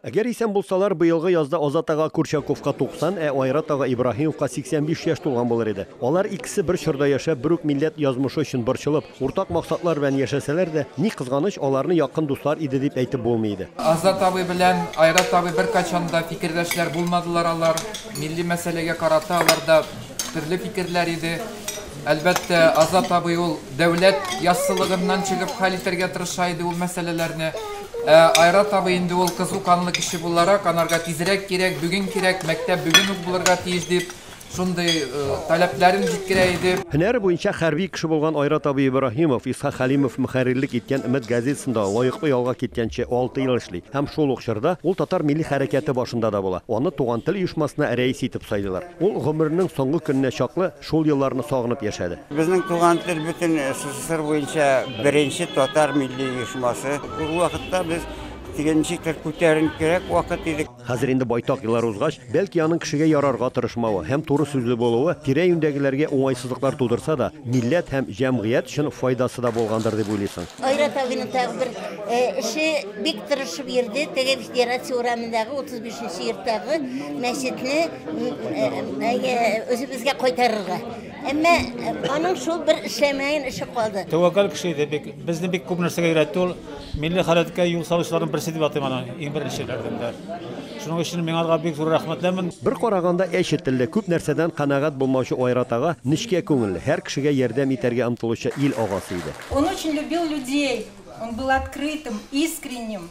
Әгәр исән булсалар, быелгы язда Азат ага Курчаковка 90, ә Айрат ага Ибраһимовка 85 яшь тулган булыр иде. Алар икесе бер чорда яшәп, бер үк милләт язмышы өчен борчылып, уртак максатлар белән яшәсәләр дә, ни кызганыч, аларны якын дуслар иде дип әйтеп булмый иде. Азат абый белән Айрат абый беркайчан да фикердәшләр булмадылар алар. Милли мәсьәләгә карата аларда төрле фикерләр иде. Әлбәттә, Азат абый ул дәүләт яссылыгыннан чыгып хәл итәргә тырыша иде ул мәсьәләләрне. Ә Айрат абый инде ул кызу канлы кеше буларак, анарга тизрәк кирәк, бүген кирәк, мәктәп бүген үк булырга тиеш дип, шундый таләпләрен җиткерә иде. Һөнәре буенча хәрби кеше булган Айрат абый Ибраһимов, Исхак Хәлимов мөхәррирлек иткән Өмет газетасында лаеклы ялга киткәнче алты ел эшли һәм шул ук чорда ул татар милли хәрәкәте башында да була, аны Туган тел оешмасына рәис итеп сайлыйлар. Ул гомеренең соңгы көненә чаклы Шул елларны сагынып яшәде. Безнең туган тел бөтен СССР буенча беренче татар милли оешмасы. Ул вакытта без теге ничектер күтәренкерәк вакыт иде. Хәзер инде байтак еллар узгач, бәлки аның кешегә ярарга тырышмавы һәм туры сүзле булуы тирә-юньдәгеләргә уңайсызлыклар тудырса да, милләт һәм җәмгыять өчен файдасы да булгандыр дип уйлыйсың. Айрат абыйның тагы бер эше, бик тырышып йөрде, теге Федерация урамындагы 35 нче йорттагы мәчетне Үзебезгә кайтарырга. Әмма аның шул бер эшләмәен эше калды. Тәвәккәл кеше иде, бик безне бик күп нәрсәгә өйрәтте ул. Милли хәрәкәткә юл салучыларның берсе дип атыйм аны, иң беренчеләрдән дә. Шуның өчен мин алга бик зур рәхмәтлемен. Бер караганда әче телле, күп нәрсәдән канәгать булмаучы Айрат ага нечкә күңелле, һәр кешегә ярдәм итәргә омтылучы ил агасы иде. Он очень любил людей, он был открытым, искренним.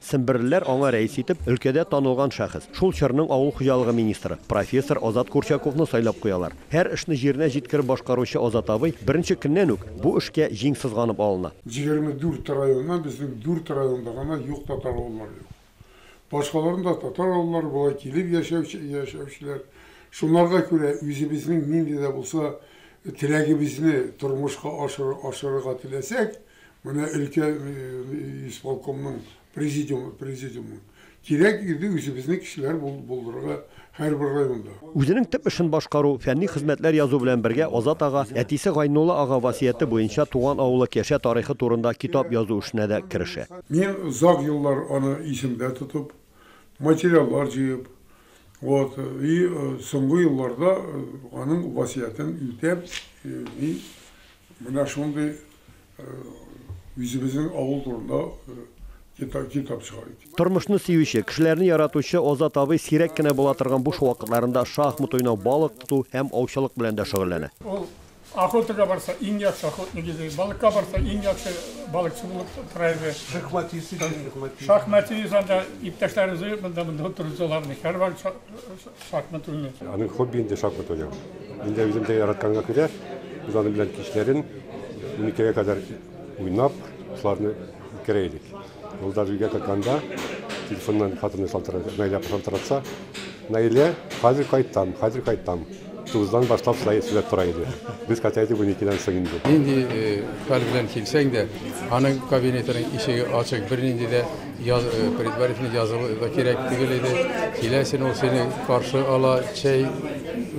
Семберлеләр аңа рәис итеп, өлкәдә танылган шәхес, шул чорның авыл хуҗалыгы министры, профессор Азат Курчаковны сайлап куялар. Һәр эшне җиренә җиткереп башкаручы Азат абый беренче көннән үк бу эшкә җиң сызганып алына. Җигерме дүрт районнан безнең дүрт районда гына юк татар авыллары юк. Башкаларның да татар авыллары була, килеп яшәүче, яшәүчеләр. Шунарга күрә үзебезнең нинди дә булса теләгебезне тормышка ашырыр, ашырырга теләсәк, Менә өлкә исполкомның президиумы, президиумы. Кирәк иде үзебезнең кешеләр булдырырга һәрбер районда. Үзенең төп эшен башкару, фәнни хезмәтләр язу белән бергә Азат ага әтисе Гайнулла ага васыяте буенча туган авылы Кәшә тарихы турында китап язу эшенә дә керешә. Мин озак еллар аны исемдә тотып, материаллар җыеп, вот, и соңгы елларда аның васыятен үтәп, мин Менә шундый үзебезнең авыл турында китап чыгар идек. Тормышны сөюче, кешеләрне яратучы Азат абый сирәк кенә була торган буш вакытларында шахмат уйнау, балык тоту һәм аучылык белән дә шөгыльләнә. Ул охотага барса, иң яхшы охотник иде, балыкка барса, иң яхшы балыкчы булып тора иде. Шахматист иде. Шахматист анда иптәшләрен җыеп, монда-монда утыргызалар иде. Һәрвакыт Шахмат уйный. Аның хобби инде шахмат уйнау. Мин дә үзем дә яратканга күрә, без аның белән кичләрен уникегә кадәр уйнап, шуларны үткәрә идек. Ул даже өйгә кайтканда телефоннан хатыны шалтырата, Наилә шалтыратса, Наилә, хәзер кайтам, хәзер кайтам. Тугыздан башлап шулай эшләп тора иде. Без кайта идек уникедән соң инде. Нинди хәл белән килсәң дә, аның кабинетының ишеге ачык, бернинди дә Яз предварительно язылу да кирәк түгел иде. Килә син, ул сине каршы ала, чәй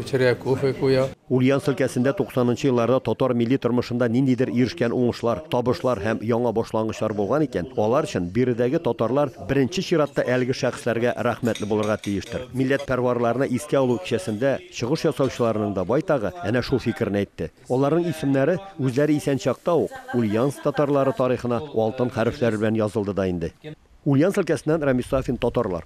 эчерә, кофе куя. Ульяновск өлкәсендә туксанынчы елларда татар милли тормышында ниндидер ирешкән уңышлар, табышлар һәм яңа башлангычлар булган икән, алар өчен биредәге татарлар беренче чиратта әлеге шәхесләргә рәхмәтле булырга тиештер. Милләтпәрварларны искә алу кичәсендә чыгыш ясаучыларның да байтагы әнә шул фикерне әйтте. Аларның исемнәре үзләре исән чакта ук Ульяновск татарлары тарихына алтын хәрефләр белән язылды да инде. Ульяновск өлкәсеннән Рамис Сафин татарлар.